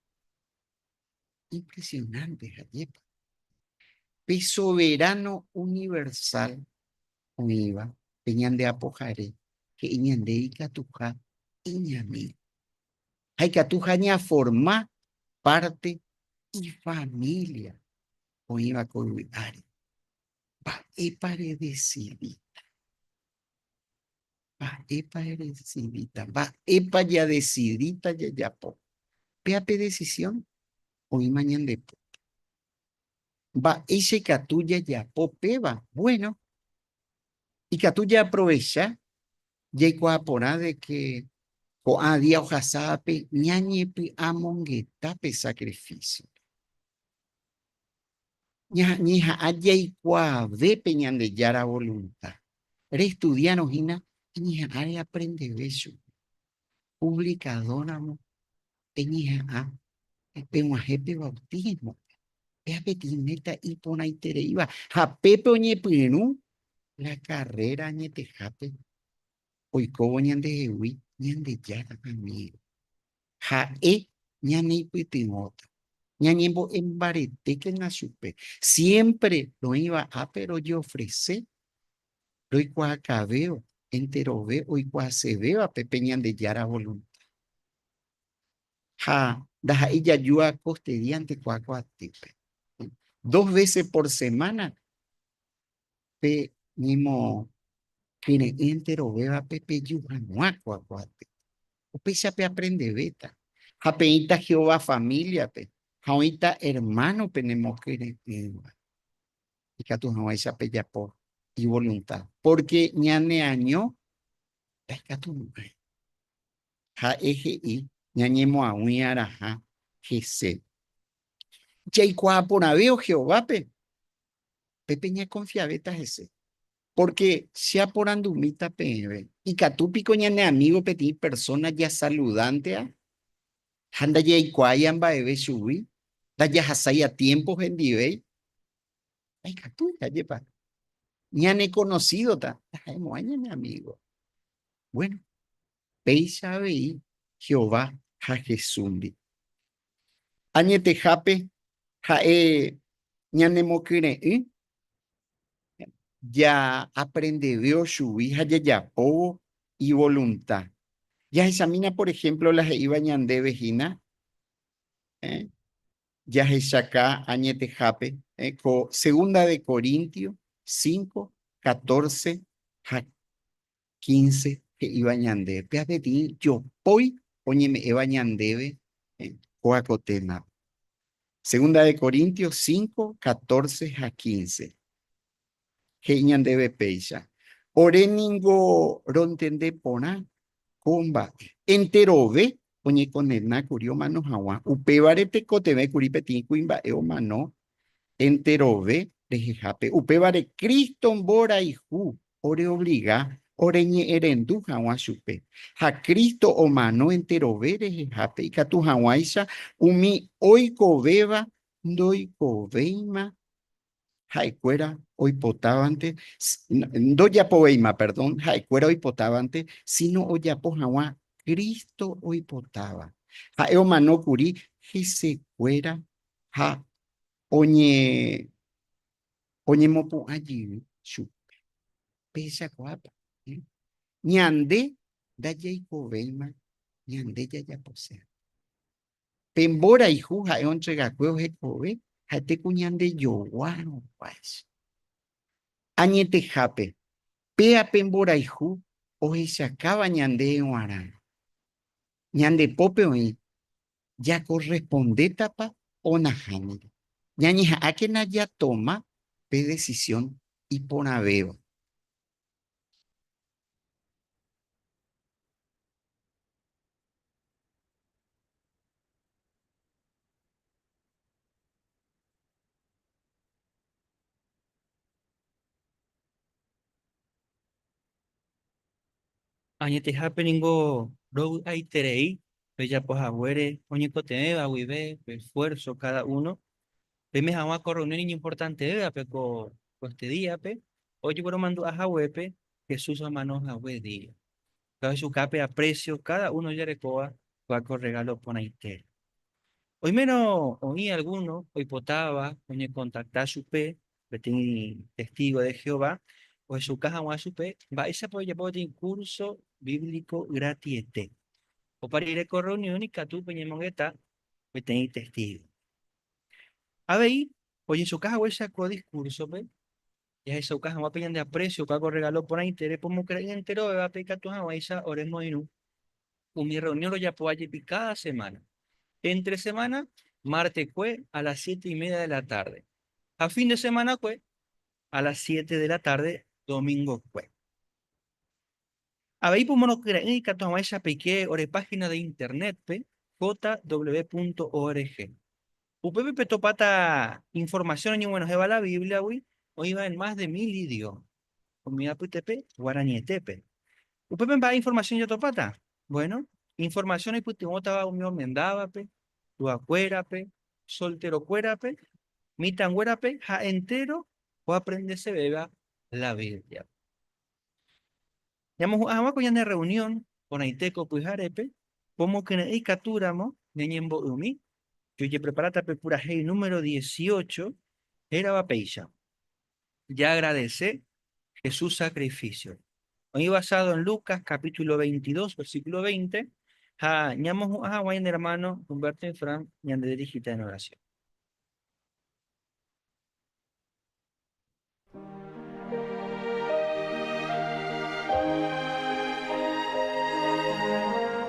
Impresionante jajepa. Pe soberano universal oĩva, pe ñande Apohare, he'i ñande ikatuha iñami. Ha ikatuha ñaforma parte ifamilia oĩva ko yvy'áre. Mba'épa redesidi? Mba'épa edesidíta? Mba'épa jadesidíta jajapo? Péa pe desisión oĩma ñande pype. Mba'éicha ikatu jajapo péva? Buéno, ikatu jaaprovecha jaikuaa porã de ke ko'ã día ohasávape ñañepy'amongeta pe sakrifísiope. ñañeha'ã jaikuaave pe Ñandejára volunta, restudiárõ hína añeha'ã reaprendeve chupe, puvlikadóramo peñeha'ã peg̃uahẽ pe vautísmope, péa peteĩ méta iporãitereíva ha pépe oñepyrũ la karréra añetehápe oikóvo ñandehegui Ñandejára amígo. Ha'e ñaneipytyvõta, ñañembo'e mbaretékena chupe. Siémpre roĩva ápe rojeofrese roikuaakavéva enterove oikuaasevévape pe Ñandejára volunta. Ha ndaha'éi jajúa kostediante kuaakuaatýpe. Dos vése por semána pe ñemo kyre'ỹ enterovévape peju hag̃ua ko apoaty. Upéicha peaprendevéta ha peĩta Jehová famíliape ha oĩta ermáno penemokyre'ỹva. Ikatu hag̃uáicha pejapo ivolunta, pórke ñaneaño ndaikatumo'ãi. Ha'e he'i ñañemoag̃ui'arãha hese. Jaikuaa porãvévo Jehovápe Pe peñakonfiavéta hese. Pórke che aporandumíta peẽve, ikatu piko ñane amígo peteĩ persóna jasaludántea ha ndajaikuaáiva mba'eve chugui, ndajahasái atiémpo hendivéi? Ndaikatúi. Ajépa ñanekonosídota ndaha'emo'ãi ñane amígo. Buéno, péicha avei Jehová ha Jesúsndi. Añetehápe ha'e ñanemokyre'ỹ jaaprendeveo chugui ha jajapóvo ivolunta. Jahechamína, por ehémplo, la he'íva ñandéve hína, jahechaka añetehápe ko Segunda de Corintios cinco, catorce ha quince he'íva ñande pe avei jopói oñeme'ẽva ñandéve kóaco témape. Segunda de Corintios cinco, catorce ha quince he'i ñandéve péicha, Ore ningo rontende porã ko mba'e, enterove oñekondena kuri omano haguã, upévare tekotevẽ kuri peteĩ kuimba'e omano enterove rehehápe, upévare Cristo mborayhu oreobliga oreñe'ẽrendu hag̃ua chupe, ha Cristo omano enterove rehehápe ikatu hag̃uáicha umi oikovéva ndoikovéima ha'ekuéra oipotávante, ndojapovéima, perdón, ha'ekuéra oipotávante, síno ojapo hag̃ua Cristo oipotáva. Ha'e omano kuri hesekuéra ha oñemopu'ã jey chupe, pehechakuaápa? Ñande ndajaikovéima ñande jajaposéva. Pe mborayhu ha'e ontregakue ohekove ha'ete ku ñande jogua ruguáicha. Añetehápe, péa pe mborayhu ohechakáva ñande g̃uarã, ñande pópe oĩ jakorrespondétapa onahániri. Ñañeha'ãkena jatoma pe desisión iporãvéva. Añetehápe ningo rovy'aiterei pejapo haguére oñekotevẽva guive pe esfuérso káda uno. Peime hag̃ua ko rreunión iñimportantevévape ko este díape, ojegueromandu'a haguépe Jesús omano hague día. Jahechukápe apresio káda uno ojerekóva kua ko rregálo porãitére. Oimérõ oĩ algúno oipotáva oñekontakta chupe Peteĩ testígo de Jehová ohechuka hag̃ua chupe mba'éichapa ojejapo peteĩ kúrso bíblico gratiete. Opa rire ko rreunión ikatu peñemongeta peteĩ testígo. Avei, ojechuka haguéicha ko diskúrsope, jahechauka hag̃ua pe ñande apresiopa ko rregálo porãite repomokre'ỹ enterovévape ikatu hag̃uáicha oremoirũ Umi rreunión rojapo ajépi káda semána. Éntre semána, martekue a las siete y média de la tárde, ha fin de semanakue a las siete de la tárde domingokue. Avei pomorõkyre'ỹ ikatu hag̃uáicha peike ore páhina de Internétpe jw.org. Upépe petopáta informasión oñeguenohẽva la Bíbliagui oĩva en más de mil idióma. Umi apytépe guaranietépe. Upépe mba'e informasión jatopáta? Bueno, informasión oipytyvõtava umi omendávape, tuakuérape, solterokuérape, mitãnguérape ha entéro oaprendesevéva la Bíbliape. Ñamohu'ã hag̃ua ko ñane rreunión porãitéko pyharépe, ko mokyre'ỹ ikatúramo ñañembo'ymi, jojepreparáta pe purahéi número dieciocho hérava péicha. jaagradese Jesús sacrificio. Oĩ basado en Lucas capítulo 22 versículo 20 ha ñamohu'ã hag̃ua ñane hermano Humberto y Fran ñandedirigita en oración.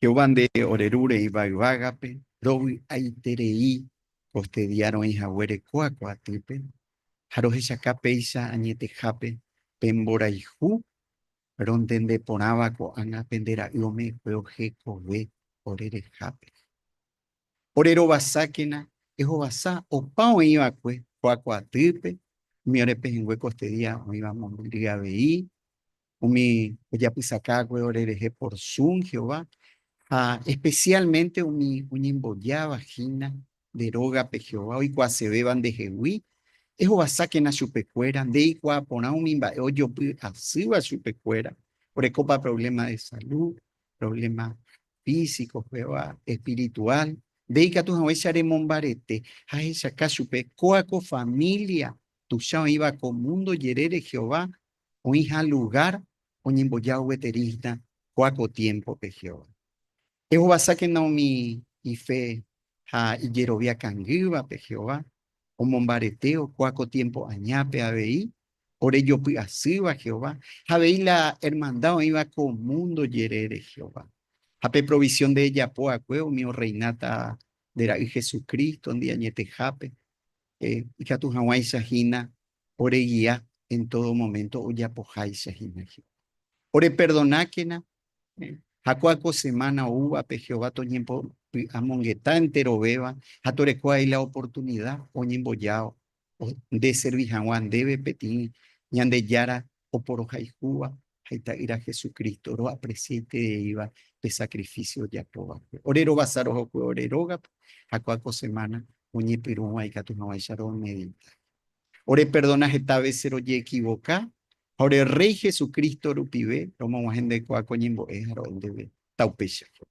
Jehová nde ore rúre ivay vágape, rovy'aiterei koste día roĩ haguére ko akua atýpe, ha rohechaka péicha añetehápe pe mborayhu rontende porãva ko'ág̃a pende Ra'y ome'ẽkue ohekove ore rehápe. Ore rovasákena ehovasa opa oĩ va'ekue ko akua atýpe, umi ore pehẽngue koste día oĩva mombyry avei, Umi ojapysakágue orerehe porsún Jehová, ha especialmente umi oñembojáva hína nde rógape Jehová oikuaasevéva ndehegui, ehovasákena chupekuéra ndeikuaa porã umi mba'e ojopy asýva chupekuéra, orekópa problema de salud, problema físico, pegua espiritual, nde ikatu haguéicha remombarete ha ehechaka chupe kóa ko familia tuicha oĩva ko mundo jerére Jehová oĩha lugár oñembojávo gueterísta ko'a ko tiémpope Jehová. Ehovasákena umi ife ha ijerovia kangývape Jehová omombaretévo ko'a ko tiémpo añápe avei ore jopy'asýva Jehová ha avei la ermanda oĩva ko múndo jerére Jehová. Ha pe provisión nde ejapo va'ekue umi orreináta nde Ra'y Jesucristo-ndi añetehápe, ikatu hag̃uáicha hína oregia en tódo moménto ojapoháicha hína Jehová. Oreperdonákena ha kóa ko semána oúvape Jehová toñembopy'amongeta enterovéva ha toreko avei la oportunida oñemboja ndeservi hag̃ua ndéve peteĩ Ñandejára oporohayhúva ha Ita'ýra Jesucristo roapresiaitereíva pe sacrificio ojapóvape. Ore rovasa rohokue ore rógape ha kua ko semana oñepyrũva ikatu hag̃uáicha romedita. Oreperdona heta vece roje'ekivoka ha ore Rréi Jesucristo rupive romog̃uahẽndekuaa ko ñembo'e ha ro'e ndéve. Taupéicha Jehová.